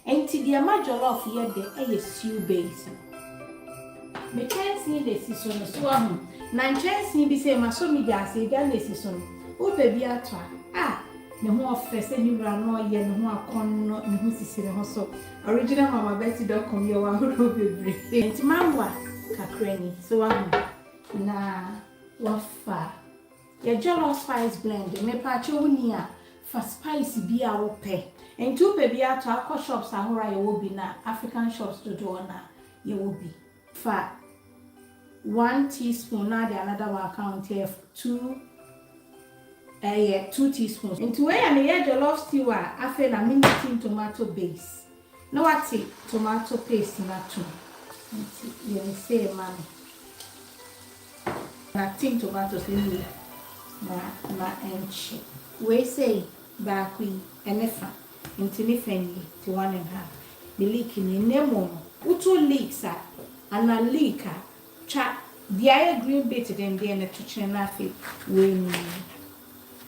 Enti deɛ ɛma jollof yɛ dɛ yɛ stew base no. Me kyɛnsee na ɛsi so no, so wahu? Na nkyɛnsee bi sei, masɔ me gya ase, gya na ɛsi so no, wopɛ bi atɔ a, ah! Ne ho ɔfɛ sɛ ne wura no ɔyɛ ne ho akɔnnɔ, ne ho sisi ne ho so. Original Mama Betty dot com yɛwɔ ahorow bebree. Enti mawa kakra ni, so wahu? Na wafa. Yɛ jollof spice blend, mepaakyɛw wo ni a fa spice bi a wo pɛ, nti wo pɛ bi a to a kɔ shops ahorow a yɛ wɔ bi na African shops dodoɔ na yɛ wɔ bi. Fa one teaspoon na de another one ka ho nti ɛyɛ two ɛyɛ two teaspoons. Nti wei yɛ ne yɛ jollof stew a afei na me ne tin tomato base. Na wate tomato paste no atom nti yɛ no sei ma no. Na tin tomatoes no wie na na ɛnkye. Wei sei baako yi ɛne fa nti ne fa nie nti one and half ne leek nie na mmom no woto leeks a anaa leek a twa deɛ ayɛ green bit dendeɛ no kyekyere na afei wei nie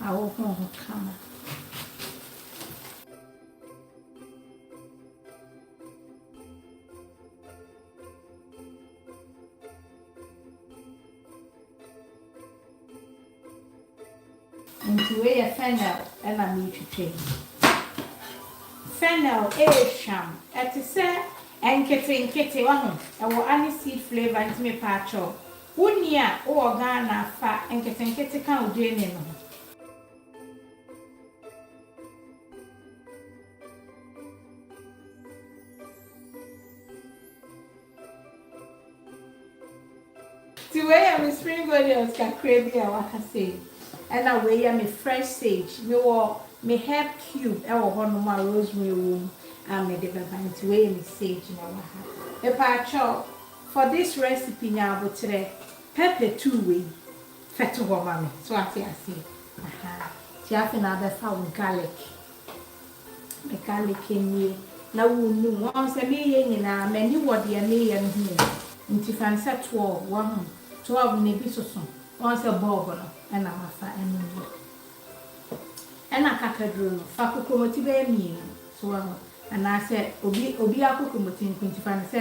ahohoro ho kama. Nti wei yɛ fennel na meretwitwa yi. Fennel yɛ hwam, ɛte sɛ nketenkete wahu, ɛwɔ aniseed flavour nti mepaakyɛw, wonni a wowɔ Ghana a fa nketenkete ka wo gyeene no ho. Ti wei yɛ me spring onions kakra bi a waka sei. Ɛna wei yɛ me fresh sage. Me wɔ me herb cube ɛwɔ hɔ nom a rosemary wɔ mu a me de bɛba nti wei yɛ me sage na ɛwɔ ha. Mepaakyɛw for this recipe nya aboterɛ pɛpɛ two wei Fɛto hɔ ma me so wate aseɛ ahaa nti afei na abɛfa wo garlic me garlic nie na wonum wɔn sɛ meyɛ nyinaa m'ani wɔ deɛ meyɛ no ho o nti fa no sɛ toɔ o wahu toɔ na ebi soso wɔn sɛ bulb no ɛna mafa ɛno nie ɛna kakaduro no fa kokromoti bɛyɛ mmienu so wahu anaasɛ obi obi akokromoti nko nti fa no sɛ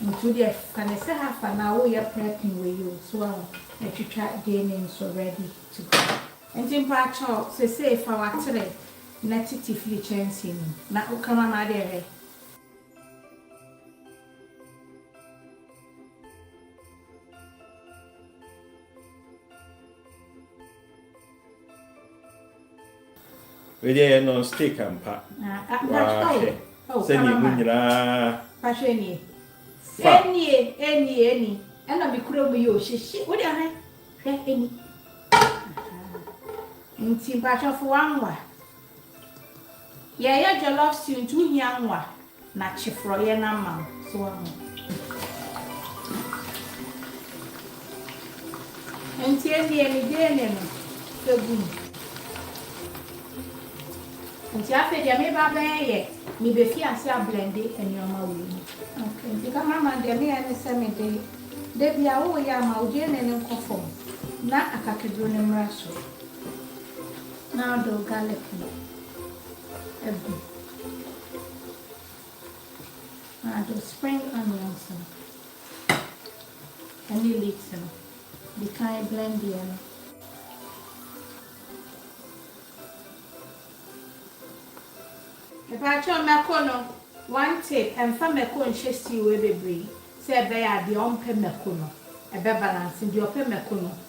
Nso deɛ ka ne sɛ half an hour wo yɛ prepping wei o so wahu na twitwa gaming so ready to go. Nti mpakyɛw sesei fa watere na titi firi kyɛnsee mu na woka ma ma deɛ hwɛ. Wei deɛ yɛ non stick ampa. Waa hwɛ sɛdeɛ emu nyinaa fa. Ɛnie ɛnie ɛni ɛna mi kura mu yi o hyehye wo deɛ hwɛ hwɛ ɛni. Nti mpatsɔ fo wanwa. Yɛyɛ jollof stew nti wohia ngo a na kye forɔyɛ no ama wo so wahu. Nti ɛnneɛ me gyeene no ɛgu mu. Nti afei deɛ meba abɛyɛ yɛ mebefi ase ablende nneɛma wɔ mu. Okay nti cameraman deɛ meyɛ ne sɛ mede da bia woyɛ a ma wo gyeene no nkɔ fam na akakaduro no mmra soro. Na wode wo garlic no agu. Na wode wo spring onions no ɛne leeks no di kan blend yɛ no. Mpakyɛw mako no, one tip, ɛmfa mako nhyɛ stew bebree sɛ ɛbɛyɛ a deɛ ɔmpɛ mako no ɛbɛ balance, deɛ ɔpɛ mako no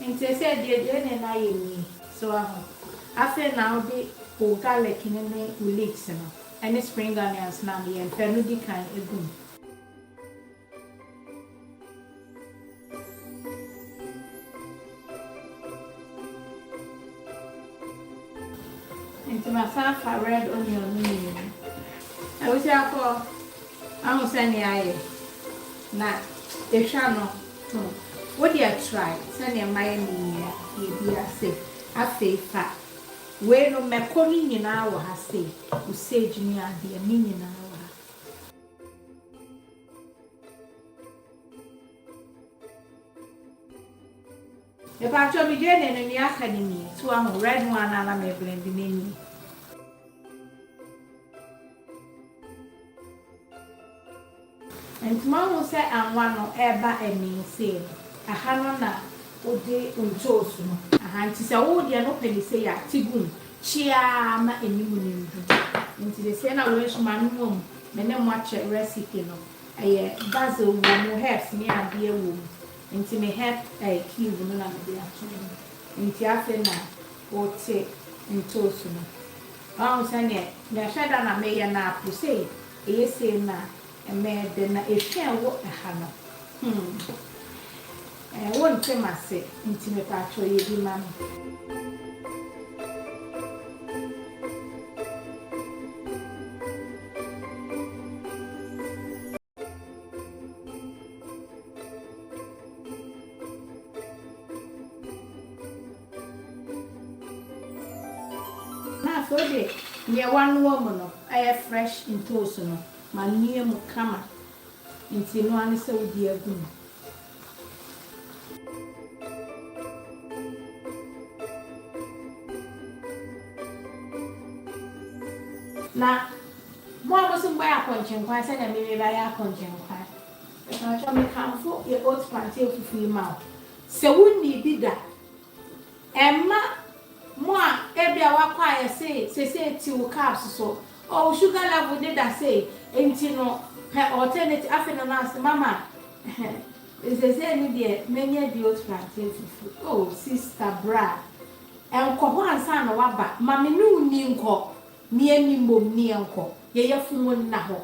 Nti sɛ deɛ deɛ ne no ayɛ nie so waho afei na wode wo garlic no ne wo leeks no ne spring onions no a meyɛ mpɛ no di kan gu mu. Nti masan afa red onion no mmienu. Abusuafoɔ, wahu sɛdeɛ ayɛ na ɛhwa no. Tom, wo deɛ trae sɛdeɛ mayɛ no yi yɛ deɛ bi ase. Afei fa wei nom mako no nyinaa wɔ ha sei, wo sage ne adeɛ, ne nyinaa wɔ ha. Mepaatwɔ me gyeene no nea aka no nie, so wahu, red one a na me blend no nie. Nti moahu sɛ anwa no reba ani sei no, ɛha no na wode ntoosi no. Aha nti sɛ wo deɛ no pɛ no sei a, te gu mu kyeaa ma anim no ndu. Nti de sei na wɔahyim ano mmom me ne mo akyɛ recipe no. Ɛyɛ basil wɔ mu, herbs ne adeɛ wɔ mu. Nti me herb ɛɛ cube no na mede ato mu. Nti afei na wote ntoosi no. Woahu sɛdeɛ mɛhwɛ da na meyɛ no apo sei Eye sei na ɛmɛɛ dɛ na ehwɛɛ wo ɛha no hmm eh wo nte m'ase nti mepaatwɔ yɛ bi ma me. Na afei wode nea woanoa mu no ɛyɛ fresh ntoosi no ma no yɛ mu kama nti ɛno ara ne sɛ wode agu mu. Na mo a mose mobɛyɛ akɔnkyenkwan sɛnea me mebɛyɛ akɔnkyenkwan, mepakyɛw mekamfo yɛ oats plantain fufu yi ma wo Sɛ wunnii bi da a, ɛmma mo a ebia woakɔ ayɛ sei seesei te wo carbs so. Oh, wo sugar level no da sei, enti no pɛ alternative. Afei no, nurse, mama, seesei no deɛ manya bi alternative fufuo. Oh, sista, bra, nkɔ hɔ ansa na woaba. Ma me ne wo nni nkɔ. Me ani mmom ne yɛnkɔ. Yɛ yafunu nna hɔ.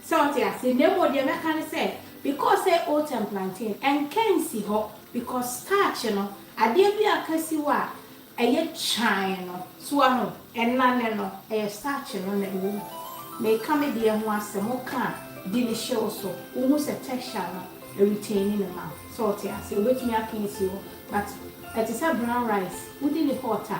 Sɛ wote aseɛ na mmom deɛ mɛka ne sɛ because sɛ oat and plantain nka nsi hɔ because starch no adeɛ bi a ka si hɔ a ɛyɛ kyan no so wahu ɛnane no ɛyɛ starch no na ɛwɔ mu meka me deɛ ho asɛm woka a di ne hye wo so wohu sɛ texture no retaini ne ma sɛ wote aseɛ wobɛtumi aka asi hɔ but ɛte sɛ brown rice wodi ne hot a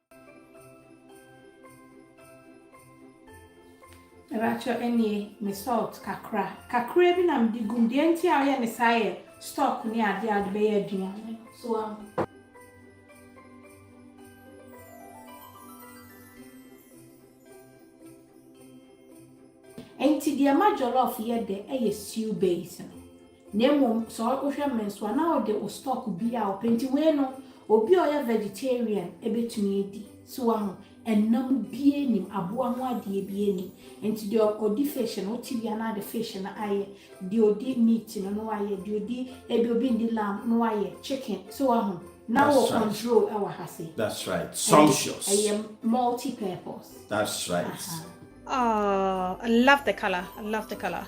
Mepakyɛ ɛnie me salt kakra kakra bi na me de gum deɛ nti a ɔyɛ ne saa yɛ stock ne adeɛ a ɔde bɛyɛ aduane so ahu. Nti deɛ ma jollof yɛ dɛ ɛyɛ stew base no. Na mmom sɛ wohwɛ me nso a, na wode wo stock bi a wopɛ. Nti wei no, obi a ɔyɛ vegetarian bɛtumi adi. So woahu? Ɛnam biara nnim, aboa ho adeɛ biara nnim. Nti deɛ ɔdi fish no, wote bi a na ɔde fish no ayɛ. Deɛ ɔdi meat no na wayɛ. Deɛ ɔdi, ebi obi nndi lamb na wayɛ chicken. So woahu? Na wɔ control wɔ ha se. That's right. Sumptuous. Ɛyɛ multi purpose. That's right. Aha. Aww I love the colour I love the colour.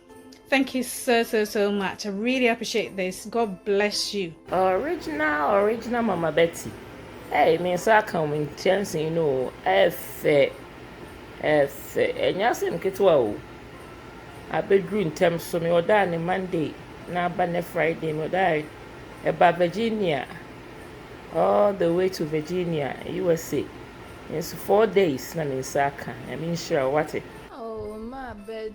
Thank you so so so much I really appreciate this God bless you. Original original mama Betty ɛy me nsa aka wɔn nkyɛnse yi no o ɛfɛ ɛfɛ ɛnyɛ asɛm ketewa o abɛduru ntɛm so me ɔdaa ne Monday na aba ne Friday me ɔdaa ɛba Virginia all the way to Virginia USA nso four days na me nsa aka ɛmi nhyira wate. Oh, my bed.